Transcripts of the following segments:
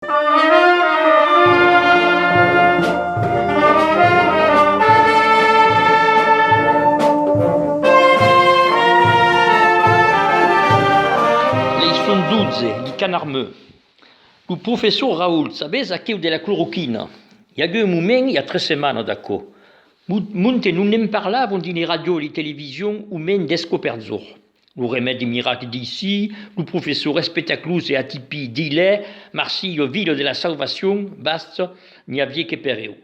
Leçon 12, li canard meu. Lo professor Raoult, sabètz aqueu de la cloroquina? I agué un moment, i a tres setmanas d'aquò, mon mon que non ne'n parlavon dins li radios, li televisions o mens deth coperzor. Lo remèdi miracle d'Issi, lo professor espectaclus e atipí d'Ilè, Marsi, lo Vila de la Salvacion, bast, n'i avié que per eu.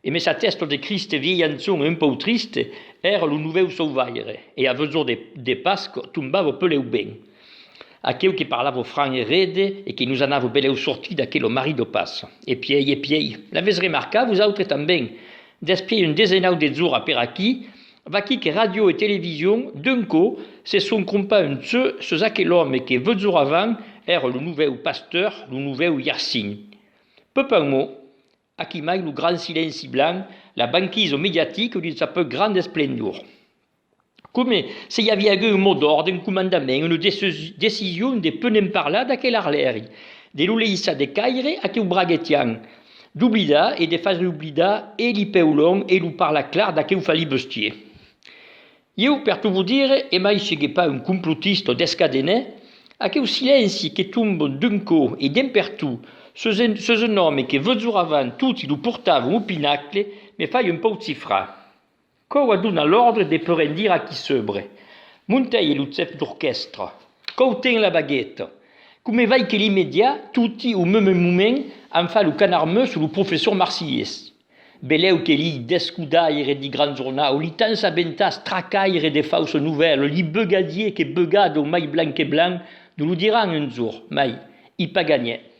E me s'atèsto de Criste vielhançon e un pòu triste, èra lo novèu sauvaire, e a vesor de de Pasc tombavo peleu ben. Aqueu que parlavo franc e rede e que nos anavo beleu sortir d'aquelo marido pas. E piei e piei. L'avètz remarcat vosautre tanben? Despiei un desenau de zora per aquí, Vaquí que ràdio e television, d'un cò, se son crompà un ceu sus aquel òme que, veutzors avant, èra lo novèu pasteur, lo novèu Yersin. Peu pas un mot. Aquí mai lo grand silenci blanc, la banquisa mediatica dins sa peu granda esplendor. Coma se i aviá agut un mot d'òrdre, un comandament, una decision de peu ne'n parlar d'aquel arlèri, de lo leissar decaire aqueu braguetian, D'oblidar e de far oblidar e li peu long e lo parla clar d'aqueu fali bestier. Ieu per to vo dire, e mai se ge pas un complotista o descadener, aqueu silenci que tombe d'un cò e dempertut sus un sus un òme que votzoravant toti lo portavan au pinacle me fai un pauc cifrar. Quò wa dona l'òrdre de perendir a qui sebre. Montèi e lo chef d'orquèstra. Quò ten la bagueta. Come vai que l'imediat, toti au meme moment, an fa lo canarmeu sur lo professor marsilhés. Belèu que li descodaire di gran jornau, li tens a bentàs tracaire de fausa novèla, li beugadier que beugada au mai blanc que blanc, no lo diràn un jorn, mai, i pas ganhèt.